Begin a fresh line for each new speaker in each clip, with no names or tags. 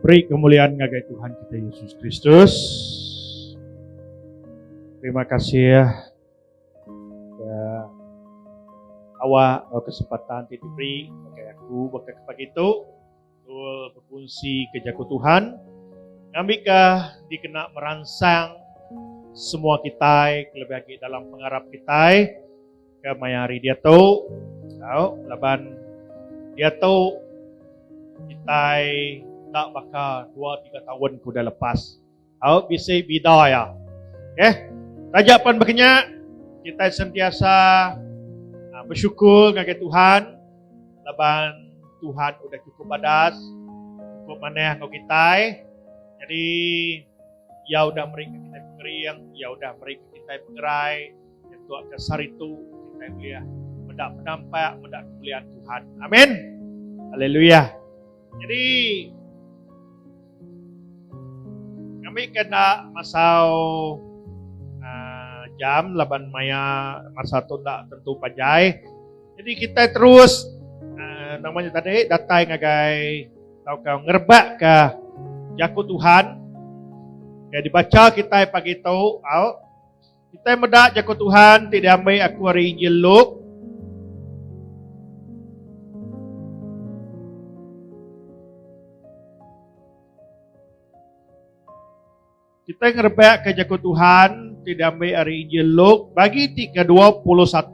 Beri kemuliaan ngagai Tuhan kita Yesus Kristus. Terima kasih ya awak oh, kesempatan ti diberi bagi aku bagi pagi itu betul berfungsi ke jaku Tuhan ngambika dikena meransang semua kita lebih lagi dalam pengarap kita Ke maya hari diatu, tau, laban diatu kitai enda baka dua tiga taun ke udah lepas. Tau, bisi bida iya. Okey. Taja pan baka nya, kitai sentiasa ah, besyukur ngagai Tuhan laban Tuhan udah cukup badas, cukup manah enggau kitai. Jadi, Iya udah meri kita pengering, Iya udah meri kita pengerai, Nyentuk ke sehari tu kita boleh meda penampak, meda kemuliaan Tuhan. Amin. Haleluya. Jadi kami kena masau uh, jam laban maya masa tu tak tentu panjai. Jadi kita terus uh, namanya tadi datai ngagai tau kau ngerbak ke jaku Tuhan. Kaya dibaca kita pagi tu, au, Kitai meda jaku Tuhan ti diambil aku ari Injil Luke. Kita ngerebak ke jaku Tuhan ti diambil ari Injil Luke bagi ti ke-21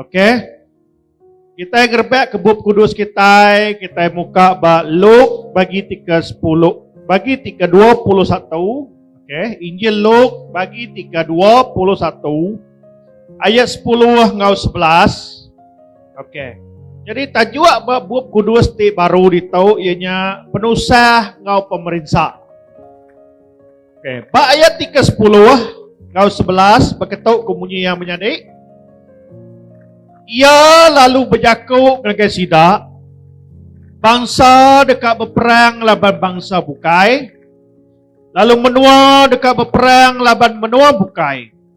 Okey. Kita ngerebak ke bup kudus kita, kita muka ba Luke bagi tiga sepuluh, bagi tiga dua puluh satu. Okey, Injil Luke bagi tiga dua puluh satu, ayat sepuluh ngau sebelas. Okey. Jadi tajuk ba bup kudus ti baru ditau ianya penusah ngau pemerinsa. Okay. Ba ayat ti ke sepuluh ngau sebelas berketuk ke munyi yang menyadi. Ia lalu berjaku ngagai sida, bangsa dekat berperang laban bangsa bukai, lalu menua dekat berperang laban menua bukai.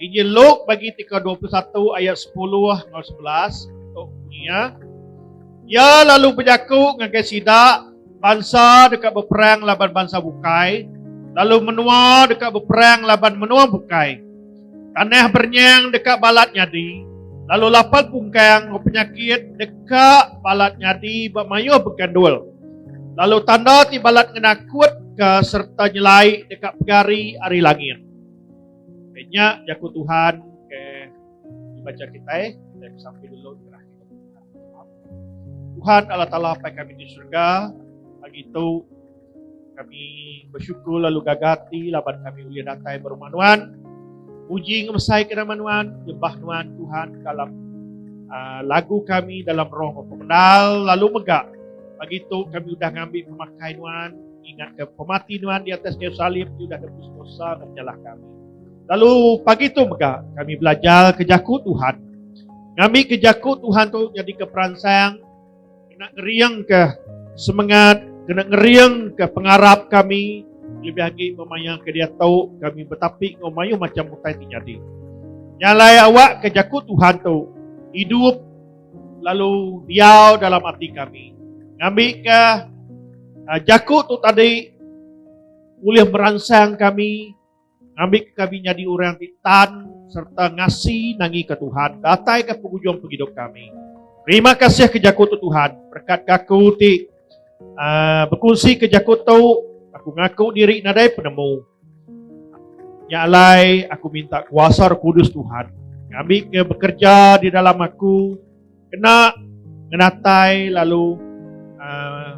Injil Luke bagi ti ke dua puluh satu ayat sepuluh enggau sebelas tu bunyi iya, Iya lalu bejaku ngagai sida, Bansa deka beperang laban bansa bukai, lalu menua deka beperang laban menua bukai. Tanah berenyang deka balat nyadi, lalu lapal pungkang enggau penyakit deka balat nyadi ba mayuh begandul. Lalu tanda ti balat ngena kutka sereta nyelai deka pegari ari langit. Nya jaku Tuhan ke dibaca kita, kita sampai dulu Tuhan Allah Ta'ala pai kami di syurga, pagi itu kami bersyukur lalu gagati laban kami boleh datang berumah Nuan. Puji ngemesai ke nama Nuan, nyembah Nuan Tuhan dalam uh, lagu kami dalam roh pemendal lalu megak. Pagi itu kami sudah ngambil pemakai Nuan, Ingatka pemati nuan di atas kayu salib ti udah nebus dosa enggau penyalah kami. Lalu pagi tu mega kami belajar ke jaku Tuhan. Ngambi ke jaku Tuhan tu jadi ke peransang kena ngering ke semangat, kena ngering ke pengarap kami lebih lagi memaya ke dia tahu kami betapi ngau mayu macam utai ti jadi. Nyalai awak ke jaku Tuhan tu hidup lalu diau dalam ati kami ngambika jaku tu tadi ulih meransang kami ngambika kami nyadi orang ti tan sereta ngasi nangika Tuhan datai ke pengujung pengidup kami. Terima kasih ke jaku tu Tuhan berkat gaku ti. Uh, berkunsi ke jaku tu, aku ngaku diri nadai penemu. Nya alai aku minta kuasa Roh Kudus Tuhan ngambi ke bekerja di dalam aku kena ngenatai lalu uh,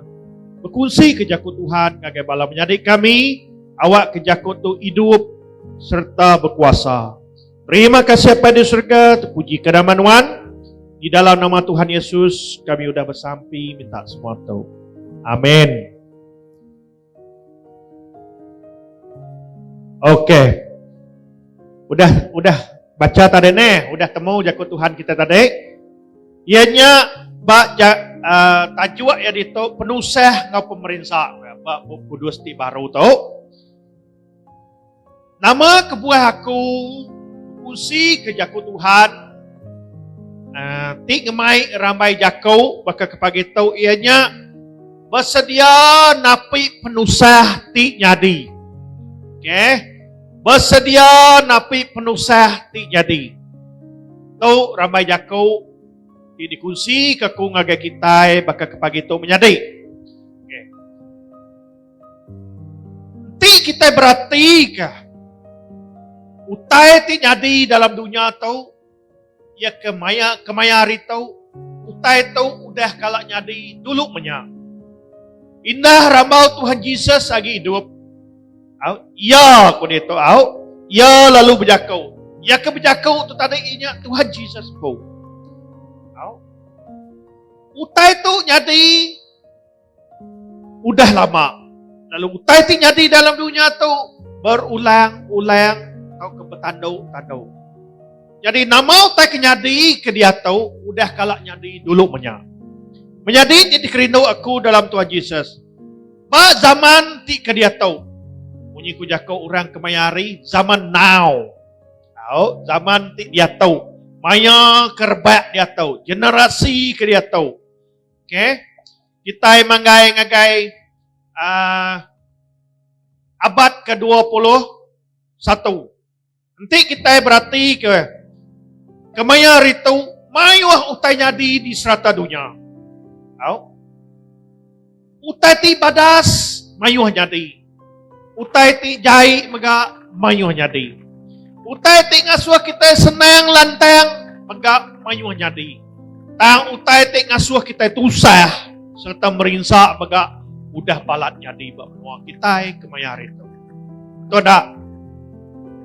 berkunsi ke jaku Tuhan ngagai bala menyadi kami awak ke jaku tu hidup serta berkuasa. Terima kasih Apai di surga, terpuji ke nama Nuan. Di dalam nama Tuhan Yesus, kami sudah bersampi minta semua tu. Amin. Okey. Udah udah baca tadi ni, udah temu jaku Tuhan kita tadi. Ianya ba ja, uh, tajuk yang itu penusah ngau pemerintah ba buku kudus ti baru tu. Nama kebuah aku usi ke jaku Tuhan uh, ti ngemai rambai jaku baka kepagi tu ia nya bersedia napi penusah ti nyadi. Okey. Bersedia napi penusah ti nyadi. Tu rambai jaku ti dikunsi ke ku ngagai kita baka kepagi tu menyadi. Enti kita beratika utai ti nyadi dalam dunya tu iya ke maya kemaya hari tu utai tu udah kala nyadi dulu menya. Indah rambau Tuhan Jesus agi hidup. Au, iya ku dia tu au, iya lalu berjaku. Iya ke berjaku tu tadi inya Tuhan Jesus ku. Au. Utai tu nyadi Udah lama. Lalu utai ti nyadi dalam dunia tu berulang-ulang atau ke bertandu-tandu. Jadi nama utai ke nyadi ke dia tu udah kala nyadi dulu menya. Menyadi ti dikerindu aku dalam Tuhan Jesus. Ba zaman ti ke dia tu. Munyi ku jaku orang kemaya hari zaman now. Tahu zaman ti dia tu. Maya kerbak dia tu, generasi ke dia tu. Okay. Kitai manggai ngagai uh, abad ke-21. Enti kitai berati ke kemaya ritu mayuh utai nyadi di serata dunia. Tau? Utai ti badas mayuh nyadi. Utai ti jai mega mayuh nyadi. Utai ti ngasuh kitai senang lantang mega mayuh nyadi. Tang utai ti ngasuh kitai tusah sereta merinsa mega udah balat nyadi ba menua kitai kemaya hari tu. Betul da?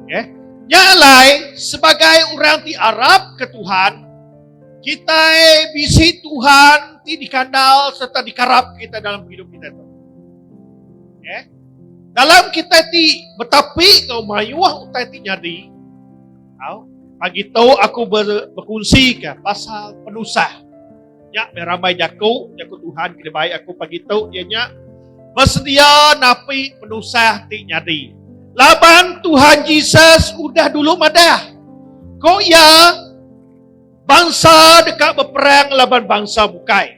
Okey. Nya alai sebagai orang ti arapka Tuhan, kitai bisi Tuhan ti dikandal sereta dikarap kitai dalam hidup kitai tu. Eh? Dalam kita ti betapi ke mayuh utai ti nyadi. Tau? Pagi tu aku ber, berkunsi ke pasal penusah. Nya ramai jaku, jaku Tuhan kena baik aku pagi tu dia nya bersedia napi penusah ti nyadi. Laban Tuhan Jesus udah dulu madah. Ko ya bangsa dekat berperang laban bangsa bukai.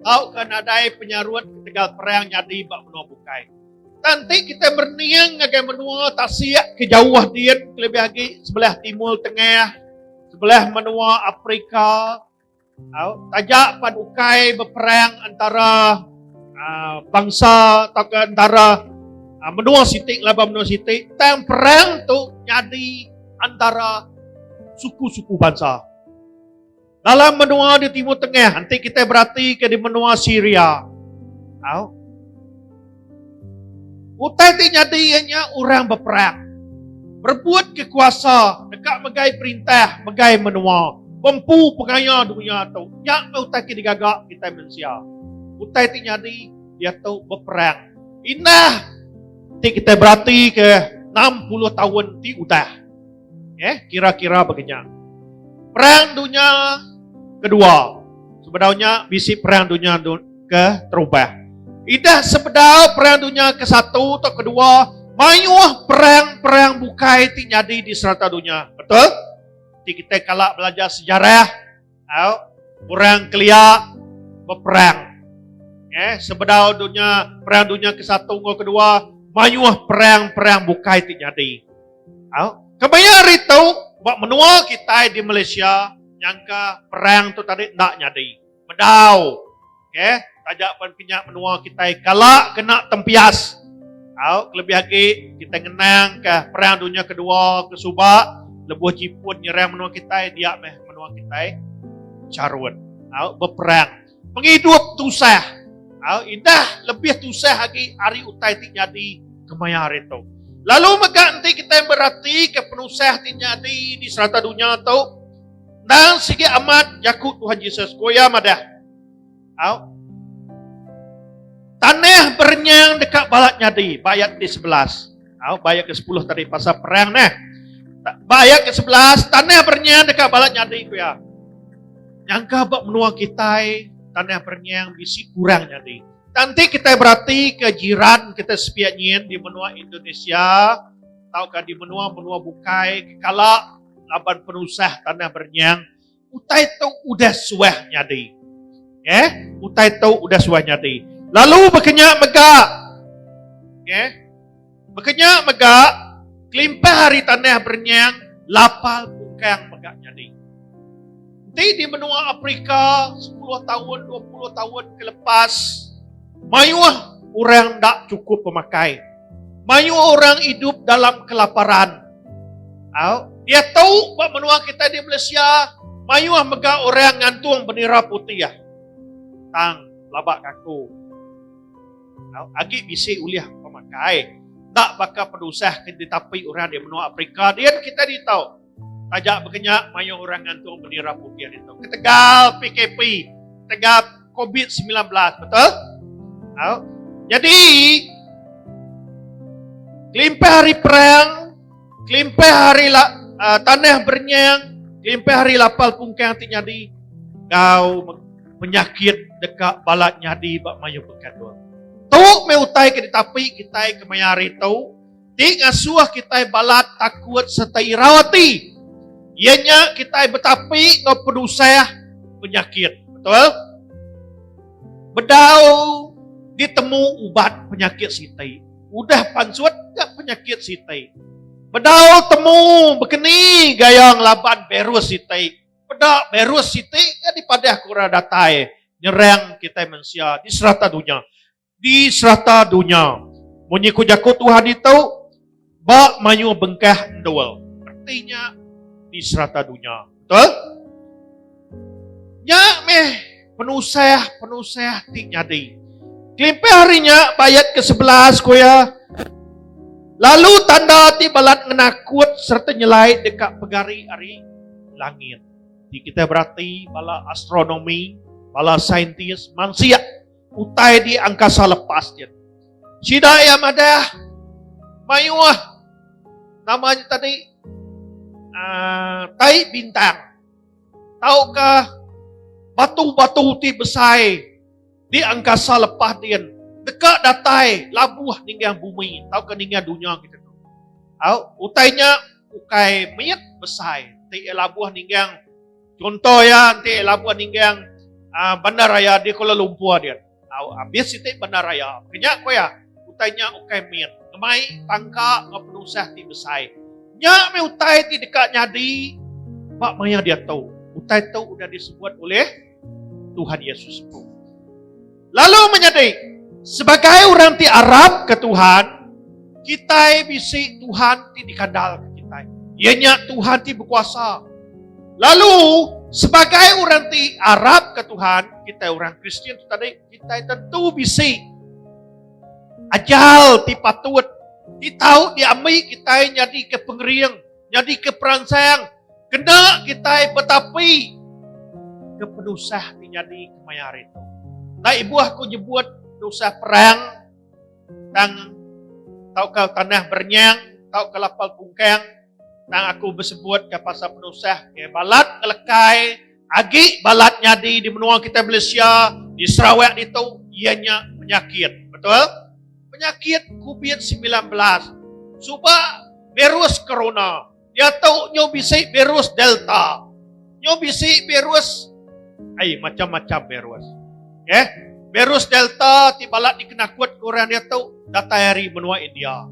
tauka nadai penyarut ketegal perang nyadi ba menua bukai. Tang ti kita merening ngagai menua tasik ke jauh din kelebih agi sebelah timur tengah, sebelah menua Afrika, taja pan ukai beperang antara ah, bangsa atau ke antara ah, menua siti laban menua siti tang perang tu nyadi antara suku-suku bangsa Dalam menua di Timur Tengah, enti kita berhati ke di menua Syria. Tahu? Utai ti jadi ianya orang berperang. Berebut ke kuasa dekat megai perintah, megai menua. Bempu pengaya dunia tu. Nya ke utai ke digaga kita manusia. Utai ti jadi dia tu berperang. Indah ti kita berhati ke 60 tahun ti udah. Okay, kira-kira begenya. Perang dunia kedua. Sebedau nya bisi perang dunia ke terubah. Idah sebedau perang dunia ke satu atau kedua, mayuh perang-perang bukai ti nyadi di serata dunia. Betul? Ti kita kala belajar sejarah, Au orang kelia beperang. Eh sebedau dunya perang dunya ke satu enggau kedua mayuh perang-perang bukai ti nyadi. Au kemaya hari tu ba menua kitai di Malaysia nyangka perang tu tadi enda nyadi. Bedau. Okay. Taja pen kenya menua kitai kala kena tempias. Au, kelebih agi kitai ngenang ke perang dunya kedua ke suba lebuh Jipun nyerang menua kitai dia meh menua kitai charut. Au, beperang. Pengidup tusah. Au, indah lebih tusah agi ari utai ti nyadi kemaya hari tu. Lalu mega enti kitai berati ke penusah ti nyadi di serata dunya tu, endang sigi amat jaku Tuhan Jesus. Ku iya madah. Au. Tanah berenyang dekat balat nyadi. Ba ayat ke sebelas. Au, ba ayat ke sepuluh tadi pasal perang ni. Ba ayat ke sebelas, tanah berenyang dekat balat nyadi ku ya. Nyangka ba menua kita, tanah berenyang bisi kurang nyadi. Nanti kita berarti ke jiran kita sepiak nyin di menua Indonesia atau di menua-menua bukai kekala laban penusah tanah berenyang Utai tu udah suah nyadi. Okay? Utai tu udah suah nyadi. Lalu berkenya mega. Okay? Berkenya mega. Kelimpah hari tanah berenyang. Lapal pungkang mega nyadi. Nanti di menua Afrika 10 tahun, 20 tahun kelepas. Mayuh orang tak cukup pemakai. Mayu orang idup dalam kelaparan. Au, dia tahu ba menua kita di Malaysia mayu ah mega orang ngantung benira putih ah. Tang labak kaku. Au, agi bisi ulih pemakai. Tak baka penusah ke ditapi orang di menua Afrika din kita di tahu. Taja bekenya mayuh orang ngantung meni rapu pia ditu ketegal PKP, ketegal COVID-19, betul? Au. Jadi kelimpah hari perang, kelimpah hari la, uh, tanah bernyang, kelimpah hari lapal pungkang ti nyadi gau penyakit deka balat nyadi ba mayuh pekadul. Tu me utai ke ditapi kitai kemaya hari tu, ti ngasuh kitai balat takut sereta irau ati, iya nya kitai betapi enggau penusah penyakit. Betul? Bedau ditemu ubat penyakit siti, udah pansut ga penyakit siti. Bedau temu bekeni gaya ngelaban virus siti, peda virus siti ga dipadah ke orang datai nyerang kitai mensia di serata dunya. Di serata dunya, munyi ku jaku Tuhan ditu, ba mayuh bengkah endur. Reti nya di serata dunya. Betul? Nya meh penusah-penusah ti nyadi. Kelimpah ari nya, ba ayat ke sebelas ku iya, Lalu tanda ti balat ngenakut sereta nyelai deka pegari ari langit. Ti kitai berati bala astronomi, bala saintis, mansia. Utai di angkasa lepas nya. Sida iya madah mayuh nama nya tadi uh, tai bintang tauka batu-batu ti besai di angkasa lepas dia deka datai labuh ninggah bumi tauka ninggah dunia kita tu. Au, utainya ukai mit besai ti labuh ninggah Chunto iya enti labuh ningging bandar raya di Kuala Lumpur din. Abis siti bandar raya. Kenya ku iya, utai nya ukai mit, ngemai tangka enggau penusah ti besai. Nya meh utai ti deka nyadi ba maya diatu. Utai tu udah disebut ulih Tuhan Yesus empu. Lalu menyadi, sebagai orang ti arap ke Tuhan, kitai bisi Tuhan ti dikandal ke kitai. Ia nya Tuhan ti berkuasa. Lalu, sebagai orang ti arap ke Tuhan, kitai orang Kristian tu tadi, kitai tentu bisi ajal ti patut, ti tahu diambil kitai jadi ke pengering. nyadi ke peransang kena kitai betapi ke penusah ti nyadi kemaya hari tu. Nda ibuh ku nyebut penusah perang tang tauka tanah berenyang tauka lapal pungkang tang aku besebut ke pasal penusah ke balat ngelekai Agi balat nyadi di menua kitai Malaysia, di Sarawak ditu iya nya penyakit. Betul? Penyakit Covid semilan belas. Suba virus corona. Diatu nyu bisi virus delta. Nyu bisi virus ai macam-macam virus. Okey. Virus Delta ti balat dikenakut ke orang diatu datai ari menua India.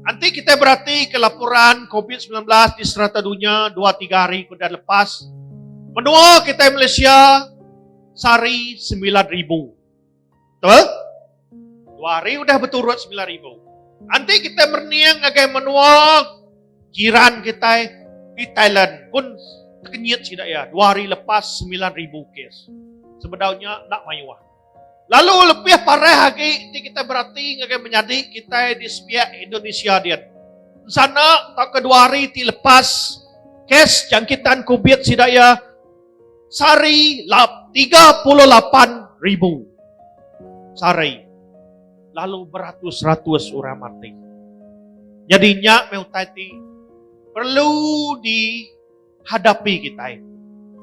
Enti kitai beratika laporan Covid sembilan belas di serata dunya dua tiga hari ke udah lepas, menua kitai Malaysia sehari sembilan ribu. Betul? Dua hari udah beturut sembilan ribu. Nanti kita berniang ngagai menua jiran kita di Thailand pun terkenyit sida ya. Dua hari lepas sembilan ribu kes. Sebedaunya nak mayuah. Lalu lebih parah lagi di kita berarti ngagai menyadi kita di sepiak Indonesia dia. Sana tak kedua hari ti lepas kes jangkitan kubit sida ya Sari lap tiga puluh lapan ribu sari lalu beratus-ratus orang mati. Jadi nya meh utai ti perlu dihadapi kitai.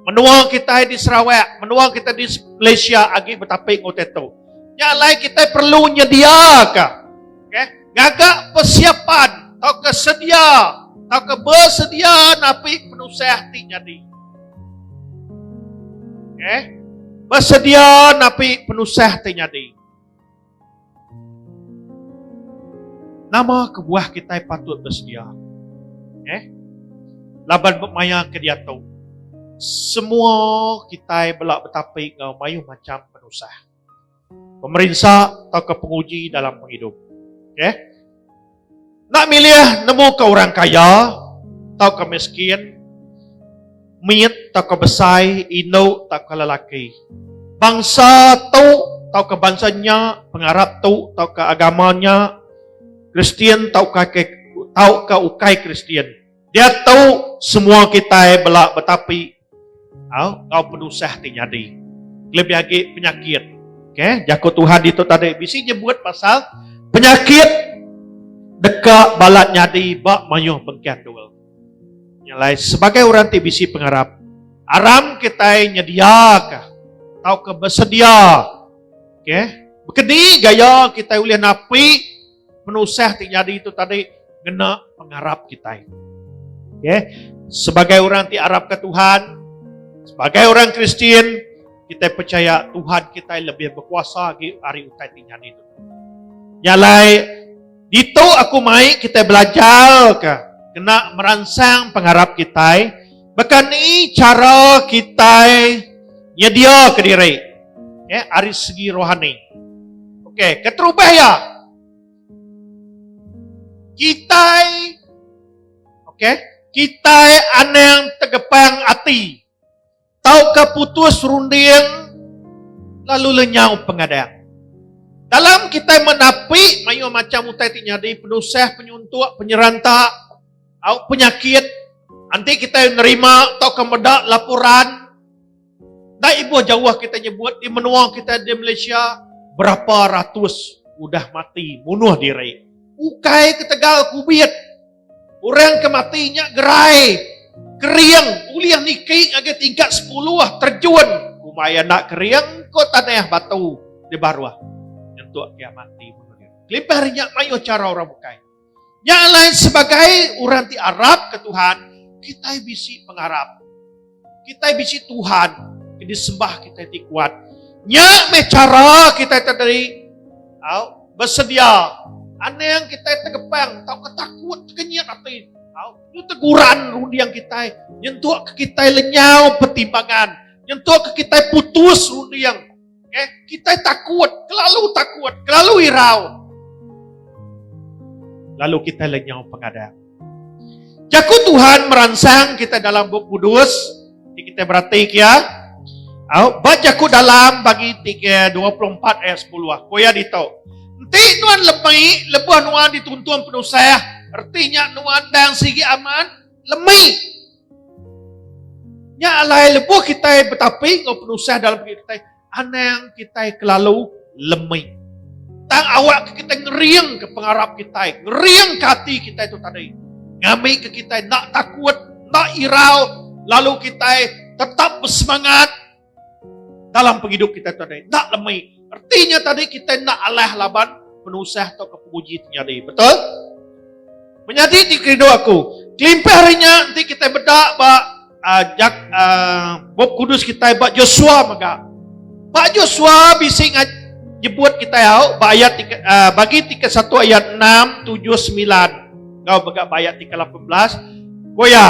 Menua kitai di Sarawak, menua kitai di Malaysia agi betapi enggau utai tu. Nya alai kitai perlu nyediaka Okay. Ngaga persiapan atau kesedia atau ke bersedia napi penusah ti jadi. Okay. Bersedia napi penusah ti jadi. Nama kebuah kita patut bersedia? Okay. Laban bermaya ke dia tu. Semua kita belak betapi ngau mayuh macam penusah. Pemerinsa tauka penguji dalam pengidup. Okey. Nak milih nemu ke orang kaya tauka miskin, mit tauka besai, indu tauka lelaki. Bangsa tu tauka bangsa nya, pengarap tu tauka agama nya, Kristian tauka ke tauka ukai Kristian. Diatu semua kitai bela betapi enggau penusah ti nyadi kelebih agi penyakit okay jaku Tuhan ditu tadi bisi nyebut pasal penyakit deka balat nyadi ba mayuh bengkah dul nya alai sebagai orang ti bisi pengarap aram kitai nyediaka tauka besedia okay bekedi gaya kitai ulih napi penusah ti nyadi tu tadi ngena pengarap kitai. Okay. Sebagai orang ti arapka Tuhan, sebagai orang Kristian, kita percaya Tuhan kita lebih berkuasa lagi hari utai ti nyadi tu. Nyalai, ditu aku mai kita belajar ke kena meransang pengarap kita Baka ni chara kitai nyediaka diri okay, ari segi rohani? Okey, keterubah ya. Kitai okey, kitai anang tegepang ati tauka putus runding lalu lenyau pengadang. Dalam kitai menapi mayuh macam utai ti nyadi penusah, penyuntuk, penyeranta, Au penyakit enti kitai nerima tauka meda laporan dai ibuh jauh kitai nyebut di menua kitai di Malaysia berapa ratus udah mati munuh diri ukai ketegal covid orang ke mati nya gerai kering ulih niki ngagai tingkat sepuluh terjun kumai enda kering ko tanah batu di baruh nyentuk kiah mati kelimpah ari nya mayuh chara orang bukai. Nya alai sebagai orang ti arap ke Tuhan, kitai bisi pengarap. Kitai bisi Tuhan ke disembah kitai ti kuat. Nya meh cara kitai tadi au bersedia anang kitai tegepang tau ketakut kenyit ati au teguran runding kitai nyentuk ke kitai lenyau pertimbangan nyentuk ke kitai putus runding Okay? Kita takut, kelalu takut, kelalu irau. Lalu kita lenyau pengadang. Jaku Tuhan meransang kita dalam buku kudus. Kita berhati ke ya. Au, bat jaku dalam bagi 3, 24 ayat 10. Ah. Kau ya ditau. Nanti nuan lemai, lebuh nuan dituntung penusah. Artinya nuan dan sigi aman, lemai. Nya alai lebuh kitai betapi enggau penusah dalam pengit kitai, anang kitai kelalu lemik. Tang awak ke kitai ngering ke pengarap kitai, ngering ke hati kitai tu tadi. Ngamik ke kitai nak takut, nak irau, lalu kitai tetap bersemangat Dalam pengidup kitai tu tadi, enda lemai. Erti nya tadi kitai enda alah laban penusah tauka penguji ti nyadi. Betul? Menyadi ti kerindu aku, kelimpah ari nya enti kitai meda ba uh, jak, uh, bup kudus kitai ba Joshua mega. Ba Joshua bisi ngaj nyebut kitai au ba ayat tika, uh, ah, bagi tika satu ayat 6, 7, 9. Kau mega ba ayat tika 18. Goya,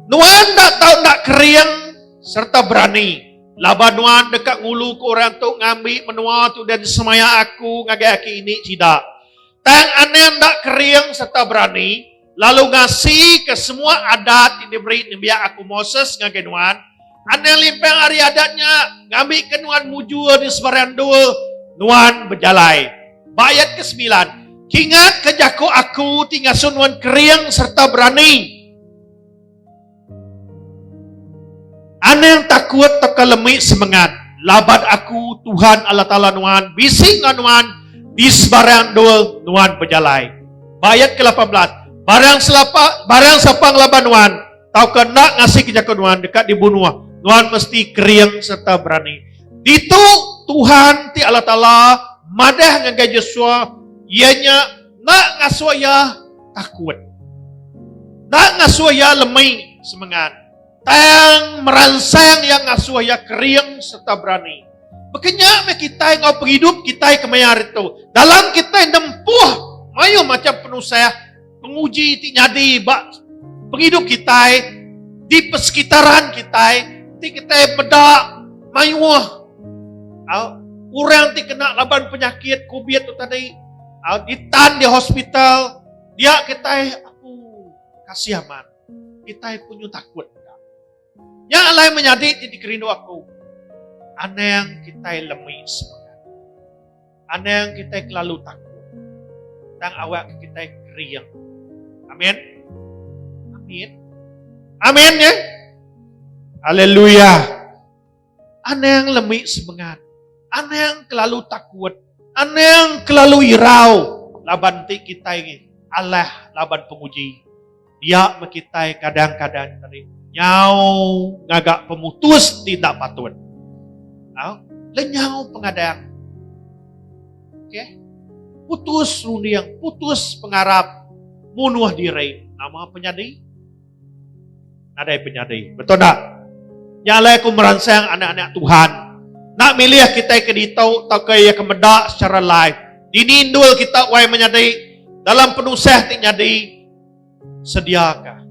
Nuan tak tahu tak kering sereta berani laban nuan deka ngulu ke orang tu ngambi menua tu dan semaya aku ngagai aki ini sida. Tang anang enda kering sereta berani lalu ngasi ke semua adat ti diberi nembiak aku Moses ngagai nuan, anang limpang ari adat nya ngambi ke nuan mujur di sebarang endur nuan bejalai. Ba ayat ke semilan, Kingat ke jaku aku ti ngasuh nuan kering sereta berani. Anang takut tauka lemi semengat laban aku Tuhan Allah Taala nuan bisi enggau nuan di sebarang endul nuan bejalai. Ba ayat ke-18, barang selapa barang sapa ngelaban nuan tauka enda ngasika jaku nuan deka dibunuh. Nuan mesti kering sereta berani. Ditu Tuhan ti Allah Taala madah ngagai Joshua iya nya enda ngasuh iya takut. Nda ngasuh iya lemai semengat, tang meransang iya ngasuh iya kering sereta berani. Baka nya meh kitai enggau pengidup kitai kemaya hari tu. Dalam kitai nempuh mayuh macham penusah, penguji ti nyadi ba pengidup kitai, di persekitaran kitai, ti kitai meda mayuh au orang ti kena laban penyakit covid tu tadi, Al ditan di hospital, dia kitai aku kasih aman. Kitai punyu takut. Nya alai menyadi ti dikerindu aku. Anang kitai lemi semangat. Anang kitai kelalu takut. Tang awak kitai kering. Amin. Amin. Amin ya. Haleluya. Anang lemi semengat. Anang kelalu takut. Anang kelalu irau laban enti kitai alah laban penguji. Dia meh kitai kadang-kadang nerima nyau ngaga pemutus ti enda patut. Au, lenyau pengadang. Okey. Putus runding, putus pengarap, munuh diri. Nama penyadi? Nadai penyadi. Betul tak? Nya alai aku meransang anak-anak Tuhan. Nak milih kita ke ditu atau ke ia ke meda secara live. Dini indul kita wai menyadi. Dalam penusah ti nyadi. Sediaka.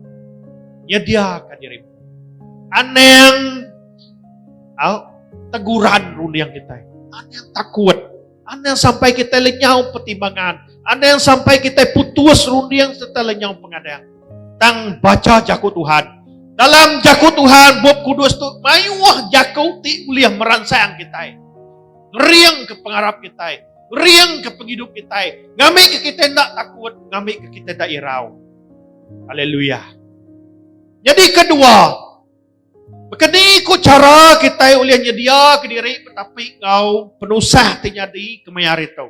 Nyediaka diri. Anang. Au. Teguran runding kita. Anang takut. Anang sampai kita lenyau pertimbangan. Anang sampai kita putus runding serta lenyau pengadang. Tang baca jaku Tuhan. Dalam jaku Tuhan, bup kudus tu mayuh jaku ti boleh meransang kita. Ngering ke pengarap kita. Ngering ke penghidup kita. Ngambil ke kita tidak takut. Ngambil ke kita tidak irau. Haleluya. Jadi kedua, Baka ni ku chara kitai ulih nyediaka diri betapi enggau penusah ti nyadi kemaya hari tu?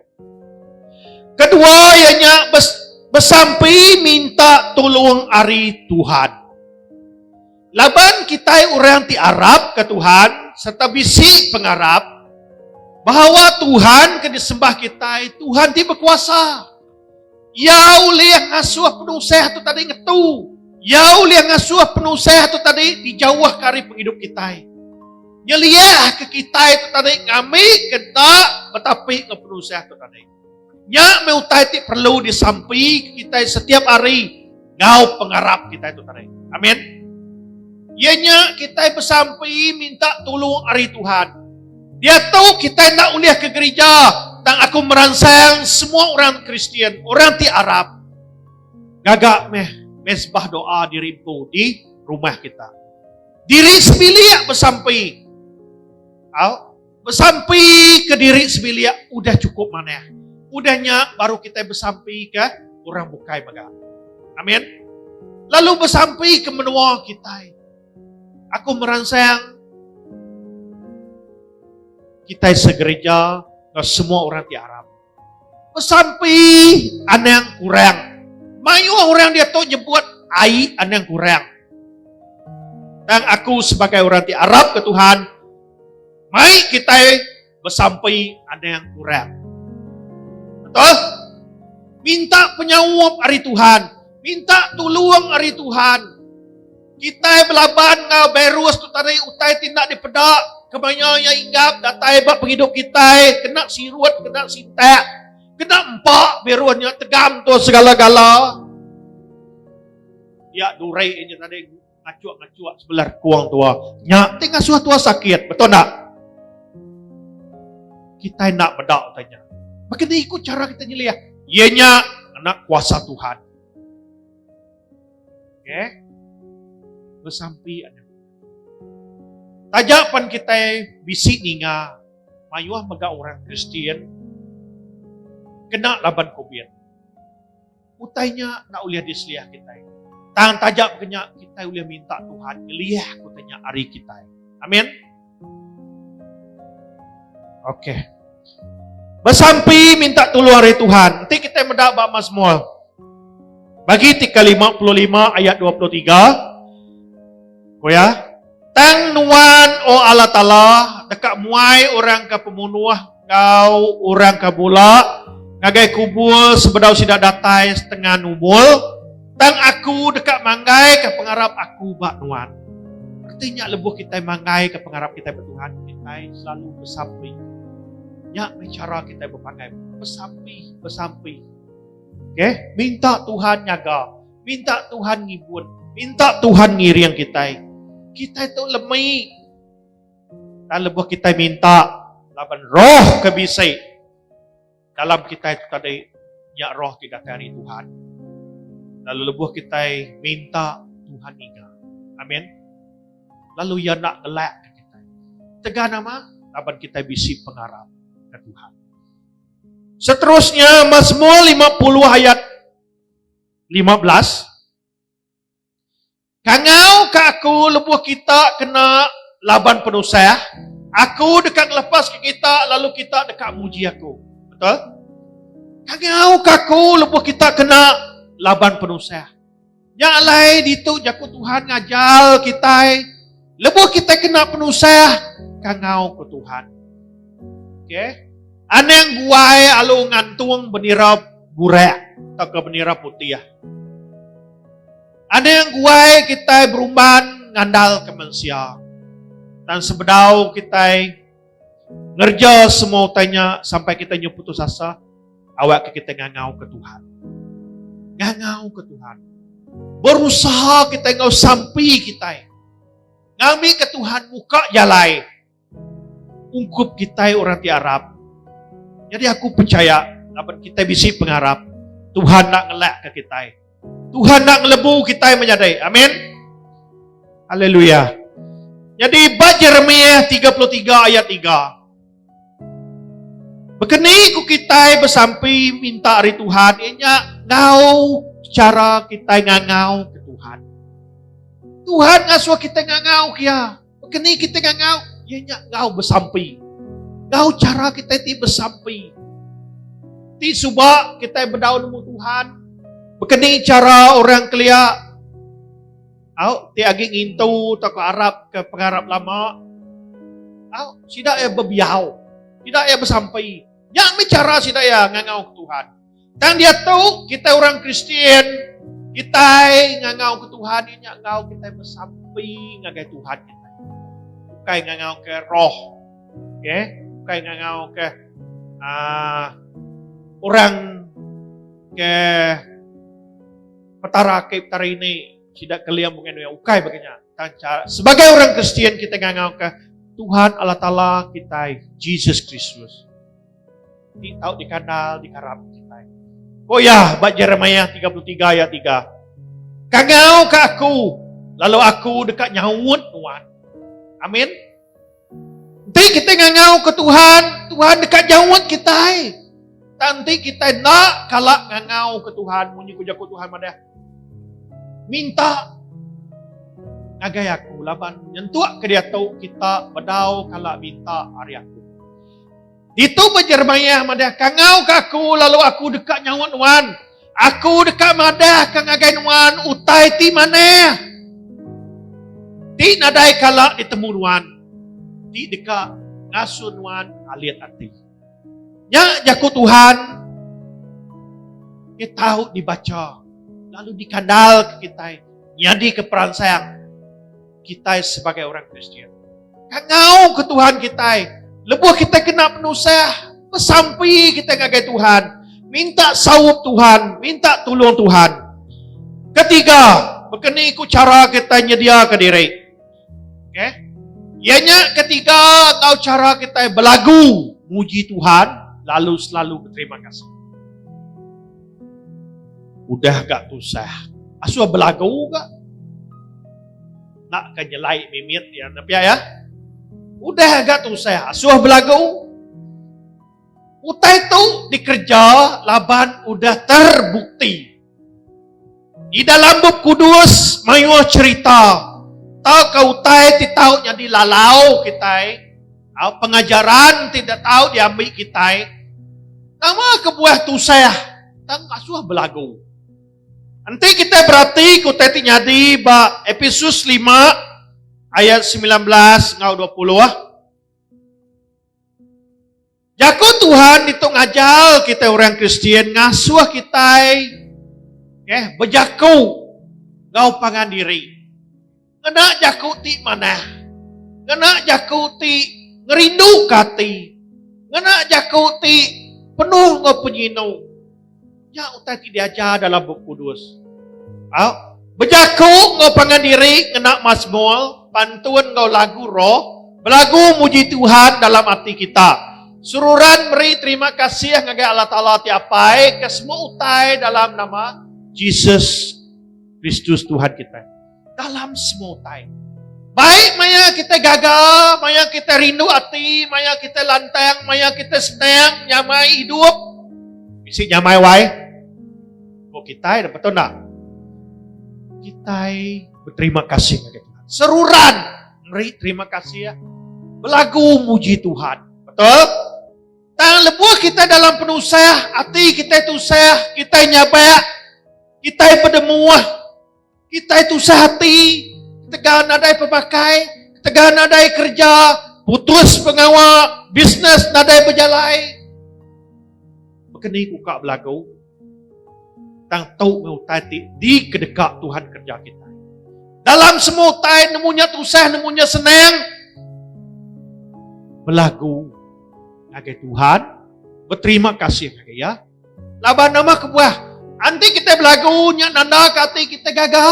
Kedua iya nya besampi minta tulung ari Tuhan. Laban kitai orang ti arapka Tuhan serta bisi pengarap bahawa Tuhan ke disembah kitai Tuhan ti bekuasa. Iya ulih ngasuh penusah tu tadi ngetu. Iya ulih ngasuh penusah tu tadi dijauh ke hari penghidup kita. Nyeliah ke kita tu tadi ngami kenta betapi ke penusah tu tadi. Nya me utai ti perlu disampi kita setiap hari. Ngau pengarap kita itu tadi. Amin. Ianya kita bersampai minta tolong hari Tuhan. Dia tahu kita nak ulih ke gereja. Tang aku meransang semua orang Kristian, orang ti Arab. Gagak meh mesbah doa di rimpu di rumah kita. Diri sebilik bersampai. Au. Besampi ke diri sebilik udah cukup manah. Udah nya baru kitai besampi ke orang bukai mega. Amin. Lalu besampi ke menua kitai. Aku meransang kitai segereja ke semua orang ti aram. Besampi anang kurang. Mayuh orang diatu nyebut ai anang kurang. Tang aku sebagai orang ti arap ke Tuhan, mai kitai besampi anang kurang. Betul? Minta penyaup ari Tuhan, minta tulung ari Tuhan. Kitai belaban enggau bairus tu tadi utai ti enda dipeda kemaya iya inggap datai ba pengidup kitai kena sirut kena sintak kena empa bairus nya tegam tu segala-gala iya durai nya tadi ngacuk-ngacuk sebelah rekung tua nya ti ngasuh tua sakit betul tak kita nak bedak tanya. Maka ni ikut cara kita nyeliah. Ianya anak kuasa Tuhan. Okay? Bersampi ada. Tajak pan kita bisi ninga mayuh mega orang Kristian kena laban COVID. Utainya nak ulih diseliah kita. Tang tajak kenya kita ulih minta Tuhan ngelih utainya hari kita. Amin. Okey. Besampi minta tolong hari Tuhan. Nanti kita meda ba Mazmur. Bagi tika 55 ayat 23. Ko ya. Tang nuan o Allah Taala deka muai orang ke pemunuh enggau orang ke bula ngagai kubur sebedau sida datai setengah numul, tang aku deka manggaika pengarap aku ba nuan. Reti nya lebuh kitai manggaika pengarap kitai ba Tuhan, kitai selalu besampi. Nya meh chara kitai bepanggai, besampi-besampi. Okey, minta Tuhan nyaga, minta Tuhan ngibun, minta Tuhan ngiring kitai. Kitai tu lemi. Tang lebuh kitai minta laban roh ke bisi dalam kitai tu tadi nya roh ti datai ari Tuhan. Lalu lebuh kitai minta Tuhan ngiga. Amin. Lalu iya enda ngelak ke kitai. Tegan nama? Laban kitai bisi pengarap ke Tuhan. Seterusnya Mazmur 50 ayat 15 Kangauka aku lebuh kita kena laban penusah, aku deka ngelepaska kita lalu kita deka muji aku. Betul? Kangauka aku lebuh kita kena laban penusah. Nya alai ditu jaku Tuhan ngajar kita lebuh kita kena penusah, kangau ke Tuhan. Okey. Anang buai alu ngantung bendera burak atau ke bendera putih. Aning guai kitai berumban ngandalka mensia. Dan sebedau kitai ngerja semua utai nya sampai kitai nyu putus asa, awakka kitai ngangauka Tuhan. Ngangauka Tuhan. Berusaha kitai enggau sampi kitai. Ngambika Tuhan muka jalai. Ungkup kitai orang ti arap. Nyadi aku pechaya laban kitai bisi pengarap Tuhan enda ngelakka kitai. Tuhan enda ngelebu kitai menyadi. Amin. Haleluya. Nyadi ba Jeremiah tiga puluh tiga ayat tiga. Baka ni ku kitai besampi minta ari Tuhan iya nya ngau chara kitai ngangau ke Tuhan. Tuhan ngasuh kitai ngangau ke iya. Kini kita ngau, ia nya ngau besampi. Ngau cara kita ti besampi. Ti suba kita bedau nemu Tuhan. Bekeni cara orang kelia Au, ti agi ngintu tak arab ke pengarap lama. Au, sida ya bebiau. Sida ya besampai. Yang bicara sida ya ngangau Tuhan. Tang diatu kita orang Kristian kitai ngangau ke Tuhan inya ngau kitai besampi ngagai Tuhan kita. Bukai ngangau ke roh. Okey, bukai ngangau ke uh, orang ke petara ke petara ini sida keliam bukan yang ukai bagainya. Sebagai orang Kristian kita ngangau ke Tuhan Allah Taala kita Jesus Kristus. Ti tau dikandal dikarap kitai. Ko iya ba Jeremiah 33 ayat 3. Kangau ke aku lalu aku deka nyaut nuan. Amin. Enti kita ngangau ke Tuhan, Tuhan deka nyaut kitai. Tanti kita nak kala ngangau ke Tuhan munyi ku jaku Tuhan madah. Minta ngagai aku laban nyentuk ke dia tu kita bedau kala minta hari aku. Ditu pun Jeremiah madah, Kangau ke aku lalu aku deka nyaut nuan. Aku deka madah ke ngagai nuan utai ti manah. Ti nadai kala ditemu nuan. Ti deka ngasuh nuan alit ati. Nya jaku Tuhan ke tahu dibaca lalu dikandal ke kitai nyadi ke peransang kitai sebagai orang Kristian. Kangau ke Tuhan kitai. Lebuh kitai kena penusah, pesampi kitai ngagai Tuhan. Minta saup Tuhan, minta tolong Tuhan. Ketiga, berkeni ku cara kita nyedia ke diri. Okay? Ianya ketiga, kau cara kita belagu muji Tuhan, lalu selalu berterima kasih. Udah ga tusah asuh belagu ga nak ka nyelai mimit iya enda pia iya. Udah ga tusah asuh belagu. Utai tu dikereja laban udah terbukti. Di dalam bup kudus mayuh cerita tauka utai ti tau nyadi lalau kitai. Au pengajaran ti enda tau diambi kitai. Nama kebuah tusah tang asuh belagu. Enti kitai beratika utai ti nyadi ba Episus lima ayat semilan belas enggau dua puluh. Jaku Tuhan ditu ngajar kitai orang Kristian ngasuh kitai eh bejaku enggau pangan diri. Ngena jaku ti manah. Ngena jaku ti ngerindu ke ati. Ngena jaku ti penuh enggau penyinu. Nya utai ti diajar dalam Bup Kudus. Au, bejaku enggau pangan diri ngena masmur, pantun enggau lagu roh, belagu muji Tuhan dalam ati kita. Seruran meri terima kasih ngagai Allah Taala ti Apai ke semua utai dalam nama Jesus Kristus Tuhan kitai. dalam semua utai. Baik maya kita gaga, maya kita rindu hati, maya kita lantang, maya kita senang, nyamai hidup. Bisi nyamai wai. Kau kita ada betul tak? Kita berterima kasih kepada Tuhan. Seruran. Meri terima kasih ya. Belagu muji Tuhan. Betul? Tang lebuh kita dalam penusah, hati kita tusah, kita nyabak, kita berdemuah, Kitai tusah ati, ketegal nadai pemakai, ketegal nadai kerja, putus pengawa, bisnes nadai bejalai. Bekeni ku kak belagu, tang tau me utai ti dikedeka Tuhan kerja kita. Dalam semua utai nemu nya tusah nemu nya senang. Belagu ngagai Tuhan, berterima kasih ngagai iya. Laban nama kebuah? Anti kita belagu nya nanda ke ati kita gaga.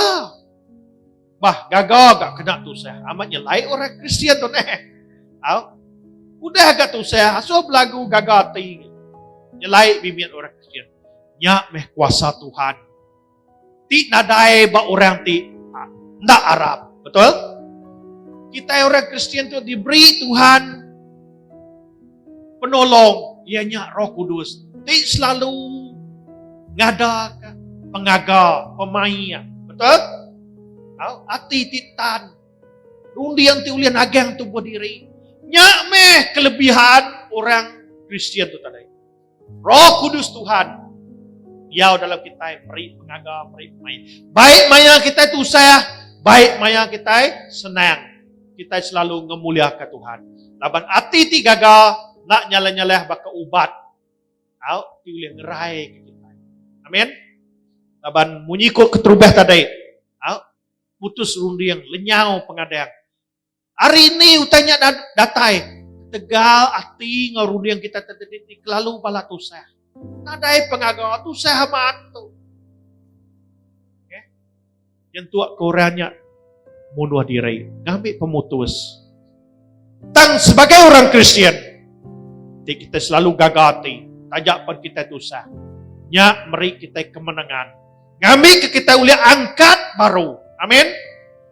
Bah, gaga ga kena tusah. Amat nya lai orang Kristian tu neh. Au. Udah ga tusah asuh belagu gaga ati. Nya lai bibit orang Kristian. Nya meh kuasa Tuhan. Ti nadai ba orang ti enda arap. Betul? Kitai orang Kristian tu diberi Tuhan penolong iya nya Roh Kudus ti selalu ngadaka pengaga pemaik. Betul? Au, ati ti tan runding ti ulih nagang tubuh diri. Nya meh kelebihan orang Kristian tu tadi. Roh Kudus Tuhan diau dalam kita meri pengaga, meri mai. Baik maya kita tu usah, baik maya kita senang. Kita selalu ngemuliakan Tuhan. Laban ati ti gaga nak nyalah-nyalah baka ubat. Au, ti boleh ngerai ke kita. Amin. Laban munyi ko keterubah tadi. Au, putus runding, lenyau pengadang. Hari ini utai nya datai ketegal ati enggau runding kita tadi ti kelalu bala tusah. Nadai pengaga tusah amat tu. Okay. Nyentuk ke orang nya munuh diri. Ngambil pemutus. Tang sebagai orang Kristian. Ti kita selalu gaga ati. Tajak pun kita tusah. Nya meri kita kemenangan. Ngambi ke kita ulih angkat baru. Amin.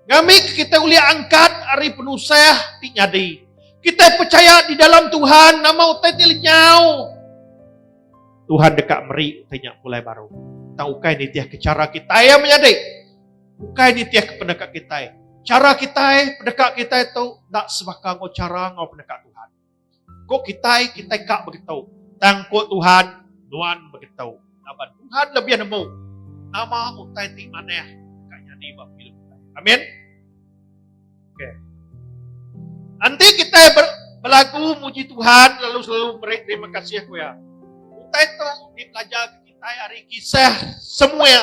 Ngambi ke kita ulih angkat hari penusah ti nyadi. Kita percaya di dalam Tuhan nama utai ti lenyau. Tuhan dekat meri utai nyak pulai baru. Tang ukai nitih ke cara kita yang menyadi. Ukai nitih ke pendekat kita. Cara kita, pendekat kita itu tak sebaka ngau cara ngau pendekat Tuhan. Ko kitai, kitai ka begetu. Tang ko Tuhan, nuan begetu. Laban Tuhan lebih nemu nama utai ti manah deka nyadi ba pengelu kitai. Amin. Okey. Enti kitai ber, belagu muji Tuhan lalu selalu beri terima kasih ku Iya. Utai tu dipelajar ke kitai ari kisah Samuel.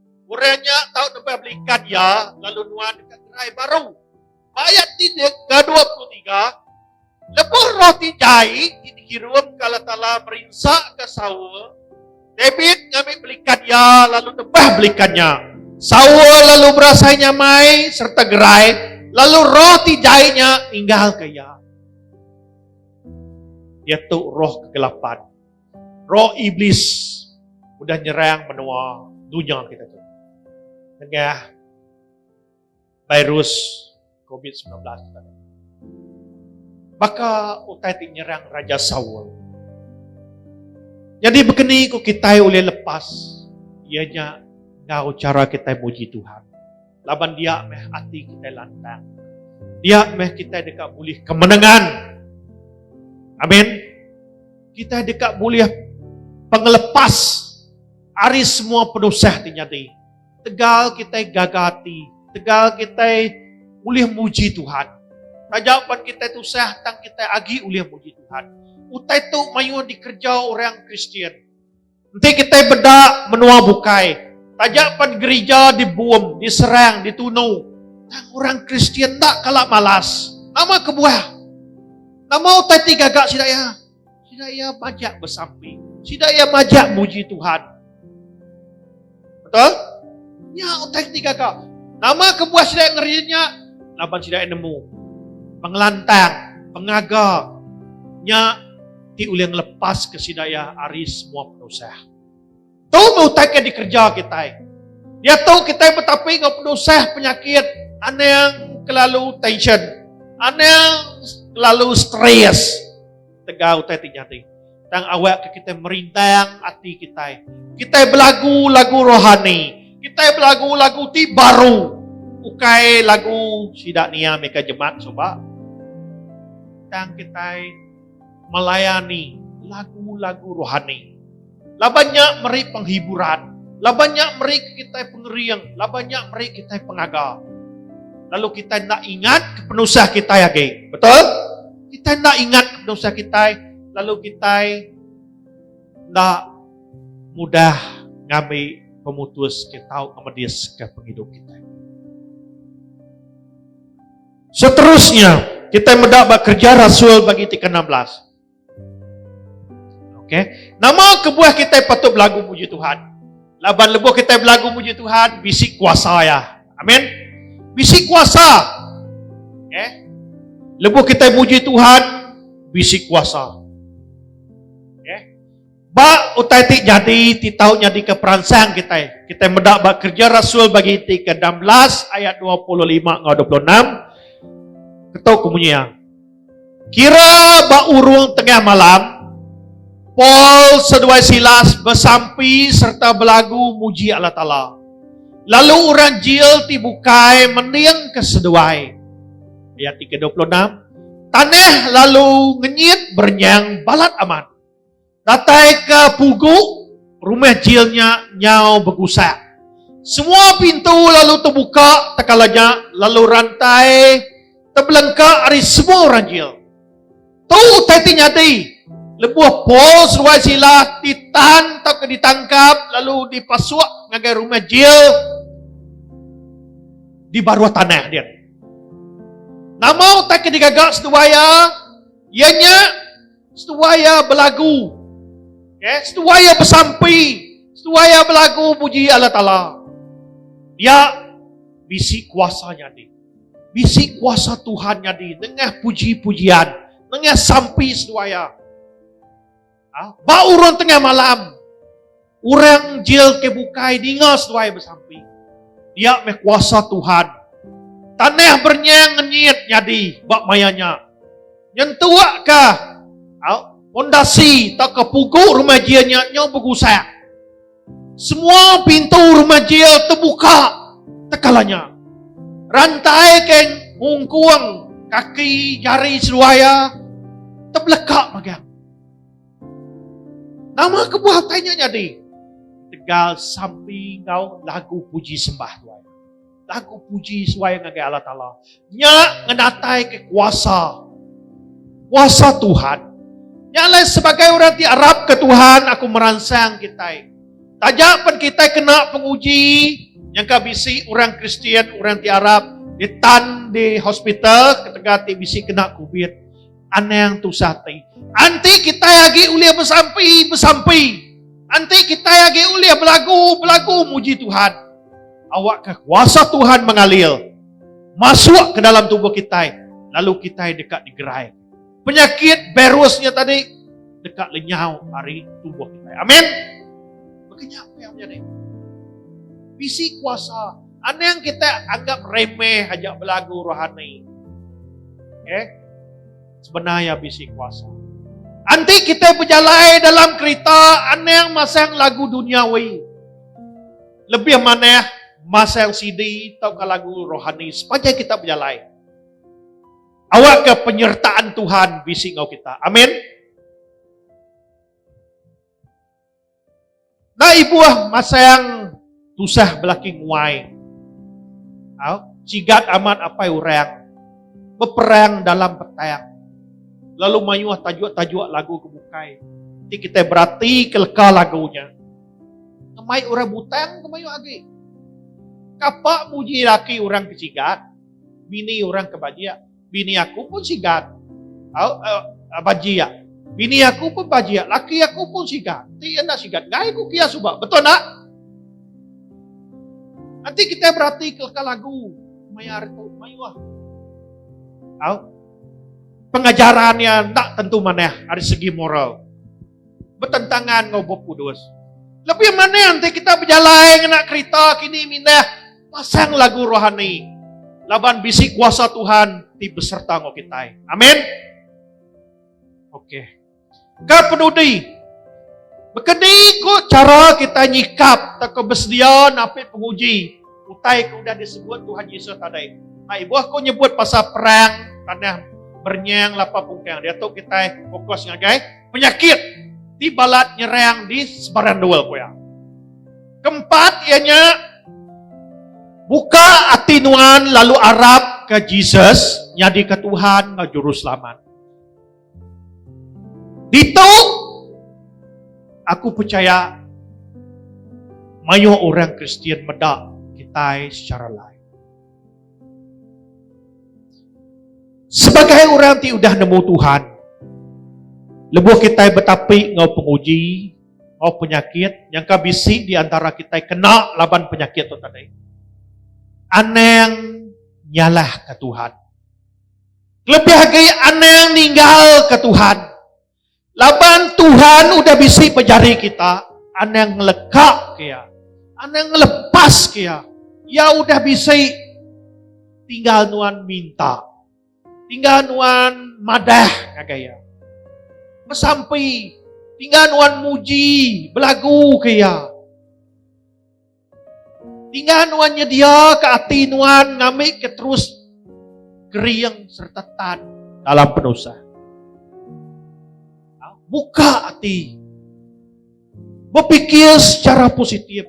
Orang nya tau nebah beli kad iya lalu nuan deka gerai baru. Ba ayat 3 ke 23, lebuh roh ti jai ti dikirumka Allah Taala merinsaka Saul, David ngambi beli kad iya lalu nebah beli kad nya. Saul lalu berasai nyamai serta gerai, lalu roh ti jai nya ninggalka iya. Iaitu roh kegelapan. Roh Iblis udah nyerang menua dunya kita tu. Nengah virus COVID-19 tadi. Baka utai ti nyerang Raja Saul. Jadi begini ku kita boleh lepas ianya ngau cara kita muji Tuhan. Laban dia meh ati kitai lantang. Dia meh kitai deka bulih kemenangan. Amin. Kitai deka bulih pengelepas ari semua penusah ti nyadi. Tegal kitai gaga ati, tegal kitai ulih muji Tuhan. Taja pan kitai tusah tang kitai agi ulih muji Tuhan. Utai tu mayuh dikereja orang Kristian. Enti kitai beda menua bukai, taja pan gerija dibom, diserang, ditunu, tang orang Kristian enda kala malas. Nama kebuah? Nama utai ti gaga sida iya? Sida iya majak besampi. Sida iya majak muji Tuhan. Betul? Nya utai ti gaga. Nama kebuah sida ngeri nya? Laban sida nemu pengelantang, pengaga nya ti ulih ngelepaska sida iya ari semua penusah. Tu meh utai ke dikereja kitai. Diatu kitai betapi enggau penusah penyakit anang kelalu tension, anang kelalu stress. Tegal utai ti nyadi. Tang awak ke kitai merindang ati kitai. Kitai belagu lagu rohani. Kitai belagu lagu ti baru. Ukai lagu sida nia mega jemat suba. Tang kitai melayani lagu-lagu rohani. Laban nya meri penghiburan. Laban nya meri kitai pengering. Laban nya meri kitai pengaga. Lalu kitai enda ingat ke penusah kitai agi. Betul? Kitai enda ingat ke penusah kitai. Lalu kitai enda mudah ngambi pemutus ke tau ngemedis ke pengidup kitai. Seterusnya, kitai meda ba kerja rasul bagi ti ke-16. Okay. Nama kebuah kita patut belagu puji Tuhan? Laban lebuh kita belagu puji Tuhan, bisi kuasa ya. Amin. Bisi kuasa. Okay. Lebuh kita puji Tuhan, bisi kuasa. Ba utai ti nyadi ti tau nyadika peransang kitai, kitai meda ba Kerja Rasul bagi enti ke enam belas ayat dua puluh lima enggau dua puluh enam, ketu ke munyi iya, Kira ba urung tengah malam, Paul seduai Silas besampi sereta belagu muji Allah Taala. Lalu orang jil ti bukai mendingka seduai. Ayat ti ke dua puluh enam, Tanah lalu ngenyit berenyang balat amat. Dataika pugu rumah jil nya nyau begusak. Semua pintu lalu tebuka tekala nya lalu rantai tebelengka ari semua orang jil. Tu utai ti nyadi lebuh Paul seruai Silas ditan tauka ditangkap lalu dipasuk ngagai rumah jil di baruh tanah dia. Nama utai ke digaga seduai iya? Iya nya Setuai iya belagu. Okay? Setuai iya besampi. Setuai iya belagu puji Allah Ta'ala. Dia bisi kuasa nyadi. Bisi kuasa Tuhan nyadi. Tengah puji-pujian. Tengah sampi setuai iya. Ha? Ba urun tengah malam. Orang jil ke bukai ninga seduai besampi. Dia meh kuasa Tuhan. Tanah bernyang ngenyit nyadi ba maya nya. Nyentuk ka pondasi tauka pugu rumah jil nya nyau begusak. Semua pintu rumah jil tebuka tekala nya. Rantai ke ngungkung kaki jari seduai iya tebeleka magang. Nama kebuah utai nya nyadi? Ketegal sampi enggau lagu puji sembah tuai. Lagu puji suai ngagai Allah Taala. Nya ngenataika kuasa. Kuasa Tuhan. Nya alai sebagai orang ti arap ke Tuhan aku meransang kitai. Taja pen kitai kena penguji nyangka bisi orang Kristian orang ti arap ditan di hospital ketegal ti bisi kena covid. Anang tusah ti. Anti kita agi ulih bersampi, bersampi. Anti kita agi ulih belagu, belagu muji Tuhan. Awak ke kuasa Tuhan mengalir. Masuk ke dalam tubuh kita. Lalu kita dekat digerai. Penyakit virusnya tadi dekat lenyau hari tubuh kita. Amin. Bagaimana yang menjadi? Bisi kuasa Anang kita anggap remeh aja belagu rohani. Eh, sebenarnya bisi kuasa. Anti kita berjalan dalam kereta anang masang lagu dunia duniawi. Lebih mana masang CD atau lagu rohani sepanjang kita berjalan. Awak ke penyertaan Tuhan bisi ngau kita. Amin. Nda ibuh masang tusah belaki nguai. Au, cigat amat apai orang beperang dalam petang. Lalu mayuh tajuk-tajuk lagu ke bukai. Ti kitai berati ke leka lagu nya. Ngemai orang butang ke mayuh agi. Kapa muji laki orang ke cigat, bini orang ke bajik. Bini aku pun sigat. Au, au, bajiak. Bini aku pun bajiak. Laki aku pun sigat. Ti enda sigat. Ngai ku kia suba. Betul tak? Nanti kita berarti ke lagu. Maya hari tu. Mayuah. Au. Pengajaran yang tak tentu manah. Dari segi moral. betentangan enggau Bup Kudus. Lebih maning ti kita bejalai ngena kerita kini mindah pasang lagu rohani. Laban bisi kuasa Tuhan ti beserta enggau kita. Amin. Okey. Ka penudi Bekeni ko cara kita nyikap takut bersedia napi penguji Utai ke udah disebut Tuhan Yesus tadi. Nah, ibuh aku nyebut pasal perang tanah bernyang lapa pungkang. Dia tu kita fokus ngagai penyakit di balat nyerang di sebarang dua kuya. Keempat ianya buka hati nuan lalu arap ke Jesus nyadi ke Tuhan ngau juru selamat. Ditu aku pechaya mayuh orang Kristian meda kitai sechara lain. Sebagai orang ti udah nemu Tuhan, lebuh kitai betapi enggau penguji, enggau penyakit, nyangka bisi di antara kitai kena laban penyakit tu tadi, anang nyalahka Tuhan. Kelebih agi anang ninggalka Tuhan. Laban Tuhan udah bisi pejari kita, anang ngelekapka iya. Anang ngelepaska iya. Iya udah bisi tinggal nuan minta. Tinggal nuan madah ngagai iya. Mesampi tinggal nuan muji belagu ke iya. Ninga nuan nyediaka ati nuan ngambika terus kering serta tan dalam penusah. Ha, buka ati. Berfikir secara positif.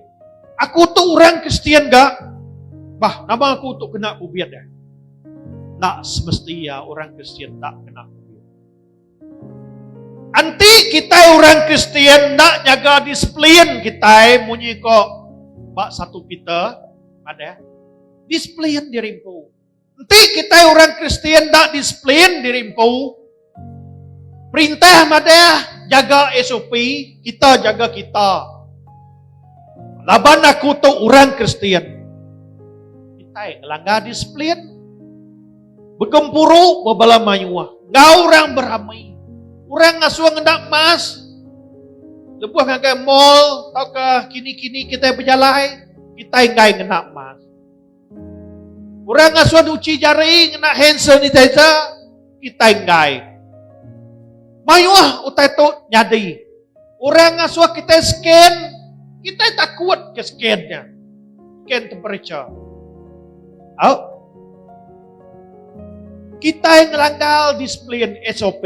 Aku tu orang Kristian gak. Bah, nama aku tu kena bubiat dah. Tak semestinya orang Kristian tak kena Enti kitai orang Kristian enda nyaga disiplin kitai munyi ko ba satu Peter madah, disiplin diri empu. Enti kitai orang Kristian enda disiplin diri empu, perintah madah jaga SOP, kita jaga kita. Laban aku tu orang Kristian. Kitai ngelanggar disiplin. Begempuru ba bala mayuh enggau orang beramai. Orang ngasuh ngena emas lebuh ngagai mall tauka kini-kini kita bejalai, kita enggai ngena emas. Orang ngasuh nyuci jari ngena hand sanitizer, kita enggai. Mayuh utai tu nyadi. Orang ngasuh kitai scan, kitai takut ke scan nya. Scan temperature. Au. Kitai ngelanggar disiplin SOP.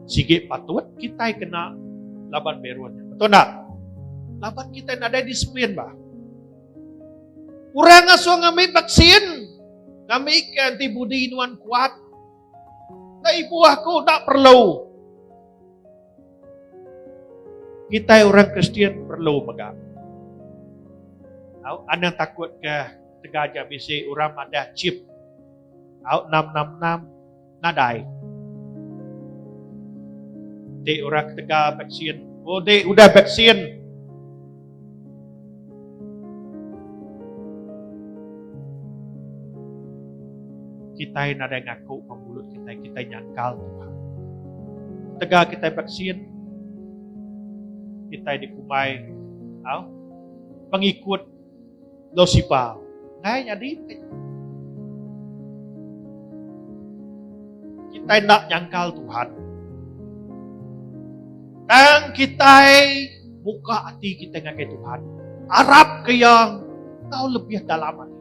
Sigi patut kitai kena laban berun. Betul tak? Laban kita nadai disiplin bah. Orang asuh ngambil vaksin, ngambil ke antibody nuan kuat, Ka ibu aku dak perlu. Kita orang Kristian perlu mega. Au anak takut ke tega aja bisi orang madah chip. Au nam nam nam nadai. Dek orang tega vaksin. Oh dek udah vaksin. Kitai nadai ngaku ba mulut kitai, kitai nyangkal Tuhan. Tegal kitai vaksin, kitai dikumbai, au, pengikut Enggau sipa. Enggai nyadi bukai nyadi. Kitai enda nyangkal Tuhan. Tang kitai buka ati kitai ngagai Tuhan. Arap ke Iya tau lebih dalam ati.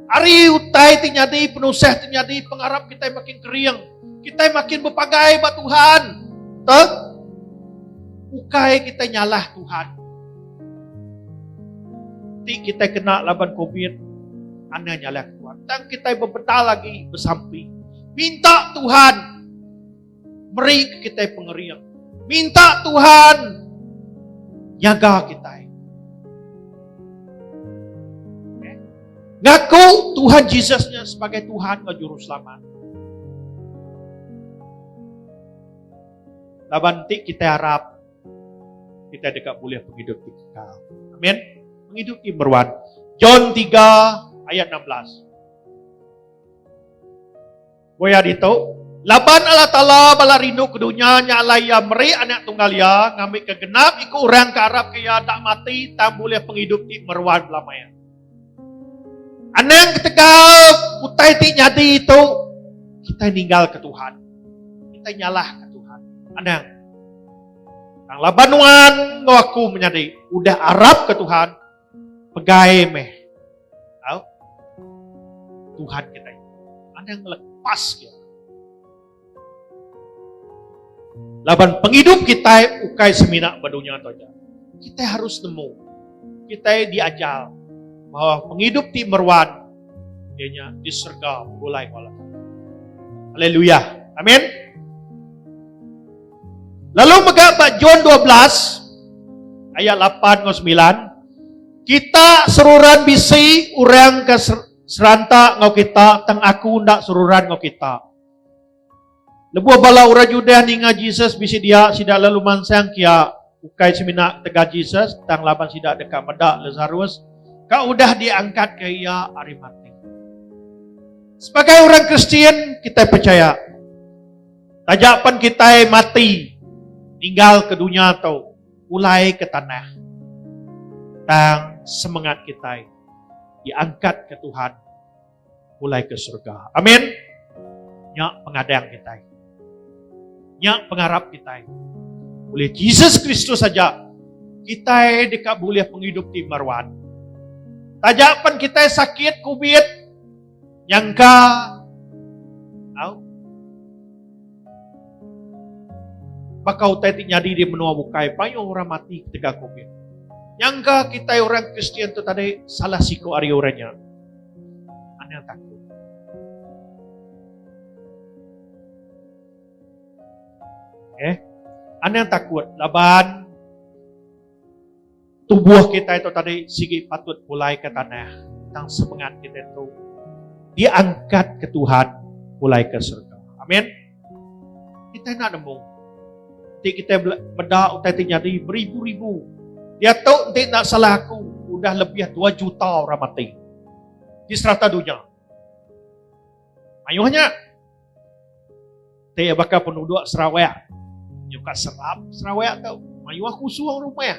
Hari utai ti nyadi, penusah ti nyadi, pengarap kitai makin kering. Kitai makin berpagai ba Tuhan. Tang bukai kitai nyalah Tuhan. Ti kita kena laban COVID, anda nyalak Tuhan. Tang kita bebedal lagi bersampi. Minta Tuhan meri kita pengering. Minta Tuhan jaga kita. Ngaku Tuhan Jesusnya sebagai Tuhan dan Juru Selamat. Laban ti kita harap Kitai deka bulih pengidup ti kekal. Amen. Pengidup ti meruan. John 3 ayat 16. Boya ditu, laban Allah Taala bala rindu ke dunya nya alai iya meri anak tunggal iya ngambika genap iku orang ke arapka iya enda mati tang bulih pengidup ti meruan bela maya. Anang ketegal utai ti nyadi tu kitai ninggalka Tuhan. Kitai nyalahka Tuhan. Anang. Nang laban nuan enggau aku menyadi udah arapka Tuhan pegai meh. Tau? Tuhan kitai. Anang lepas dia. Laban pengidup kitai ukai semina ba dunya tu aja. Kitai harus nemu. Kitai diajar bahawa pengidup ti meruan iya nya di serega begulai enggau Allah Taala. Haleluya. Amin. Lalu mega ba John 12 ayat 8 enggau 9 kita seruran bisi orang ke seranta enggau kita tang aku enda seruran enggau kita. Lebuh bala orang Judah ninga Jesus bisi dia, sida lalu mansang ke iya, ukai semina ketegal Jesus, tang laban sida deka meda Lasarus ke udah diangkatka iya ari mati. Sebagai orang Kristian, kitai pechaya, taja pen kitai mati ninggal ke dunya tu, pulai ke tanah, tang semengat kitai diangkatka Tuhan. pulai ke serega. Amin. Nya pengadang kitai. Nya pengarap kitai. Oleh Jesus Kristus saja kitai deka bulih pengidup ti meruan. Taja pen kitai sakit covid nyangka au baka utai ti nyadi di menua bukai payung orang mati ketegal covid. Nyangka kitai orang Kristian tu tadi salah siku ari orang nya. Anil takut. Eh, anil takut laban tubuh kita itu tadi sigi patut pulai ke tanah tang semangat kita itu diangkat ke Tuhan pulai ke surga. Amin. Kita enda nemu. Nanti kita meda utai ti nyadi beribu-ribu. Dia tu nanti nak salah aku. Udah lebih 2 juta orang mati. Di serata dunia. Ayuhnya. Nanti bakal penduduk Sarawak. Nyuka serap Sarawak tu. Ayuh aku suruh rumah.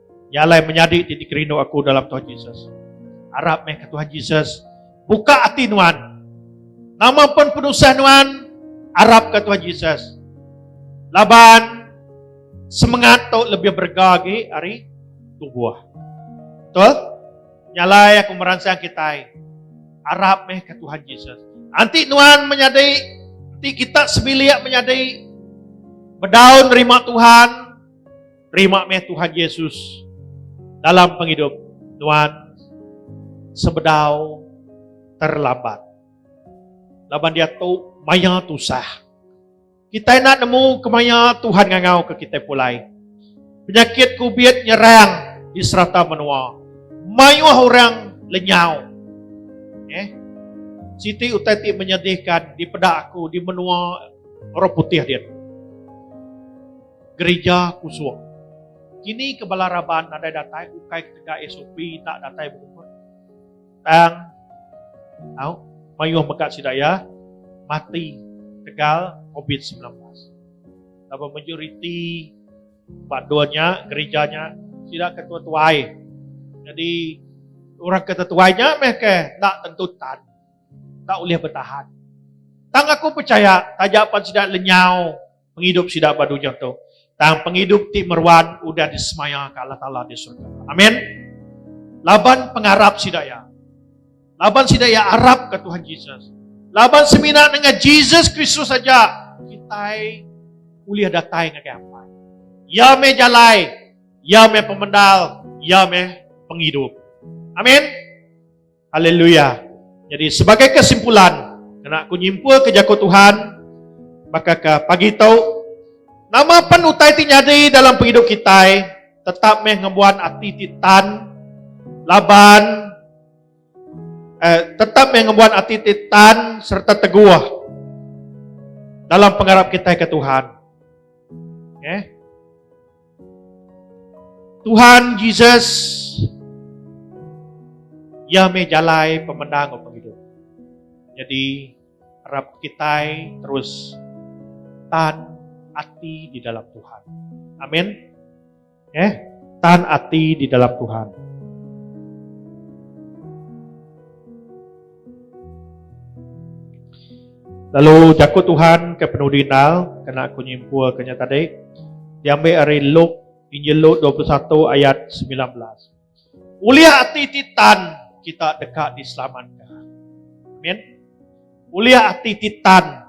Iya alai menyadi ti dikerindu aku dalam Tuhan Jesus. Arap meh ke Tuhan Jesus buka ati nuan. Nama pun penusah nuan, arap ke Tuhan Jesus. Laban semangat tu lebih berga lagi hari tubuh. Betul? Nyalai aku meransang kita. Arap meh ke Tuhan Jesus. Nanti nuan menyadi, nanti kita sebilik menyadi, berdaun nerima Tuhan, terima meh Tuhan Yesus dalam pengidup nuan sebedau terlambat. Laban diatu maya tusah. Kita nak nemu kemaya Tuhan ngangau ke kita pulai. Penyakit kubit nyerang di serata menua. Mayuh orang lenyau. Eh? Siti utai ti menyedihkan di peda aku di menua orang putih dia. Gerija Kusuk. Kini ke bala raban nadai datai ukai ketegal SOP tak datai berumur. Tang au mayuh mega sida iya mati ketegal covid semilan belas. Laban majoriti ba dua nya gerija nya sida ke tua-tuai. Nyadi orang ke tetuai nya meh ke enda tentu tan. Enda ulih betahan. Tang aku pechaya taja pan sida lenyau. pengidup sida ba dunya tu, tang pengidup ti meruan udah disemaya ke Allah Taala di surga. Amen. Laban pengarap sida iya. Laban sida iya arap ke Tuhan Jesus. Laban semina dengan Jesus Kristus saja kitai ulih datai ngagai Apai. Ya meh jalai, ya meh pemendal, ya meh pengidup. Amin. Haleluya. Jadi sebagai kesimpulan, kena aku nyimpulka jaku Tuhan baka ke pagi tu, nama pen utai ti nyadi dalam pengidup kitai tetap meh ngembuan ati ti tan laban eh, tetap meh ngembuan ati ti tan serta teguh dalam pengarap kita ke Tuhan. Okay. Eh? Tuhan Jesus ia meh jalai pemenang orang hidup. Jadi harap kita terus tan ati di dalam Tuhan. Amin. Eh, tan ati di dalam Tuhan. Lalu jaku Tuhan ke penudi endang kena aku nyimpulka nya tadi diambil ari Luke, Injil Luke 21 ayat 19. Ulih ati ti tan kita deka diselamat. Amin. Ulih ati ti tan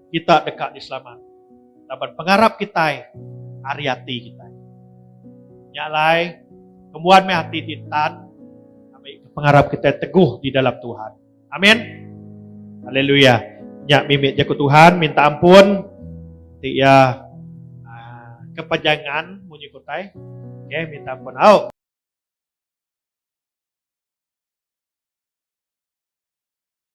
kita deka diselamat laban pengarap kitai ari ati kitai. Nya alai, kembuan meh ati ti entan ambika pengarap kitai teguh di dalam Tuhan. Amin. Haleluya. Nya mimit jaku Tuhan minta ampun ti iya ah, kepanjangan munyi kutai. Okey, minta ampun au.